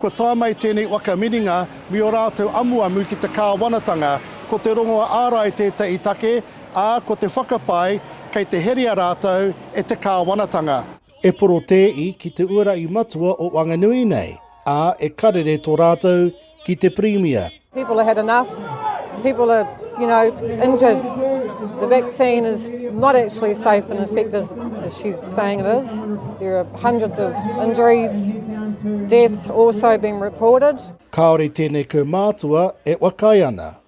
Kua tae mai tēnei waka mininga me ō rātou amuamu ki te kāwanatanga. Ko te rongoa ārai tētahi take, ā, ko te whakapae kei te herea rātou e te kāwanatanga. E porotēi ki te uarahi matua o Wanganui nei, ā, e karere tō rātou ki te Pirimia. People have had enough. People are, you know, into the vaccine is not actually safe and effective as she's saying it is. There are hundreds of injuries, deaths also being reported. Kāore tēnei kaumātua e wakai ana.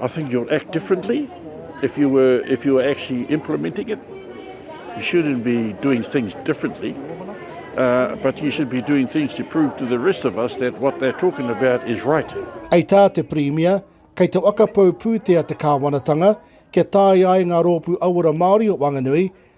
I think you'll act differently if you were if you were actually implementing it. You shouldn't be doing things differently, uh, but you should be doing things to prove to the rest of us that what they're talking about is right. Hei tā te Pirimia, kei te whakapau pūtea te kāwanatanga kia tāia ai ngā rōpū auora Māori o Wanganui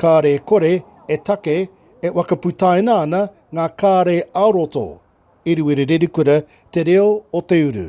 Kāre kore e take e whakaputaina ana ngā kāre ā-roto i Ruerererikura te reo o te uru.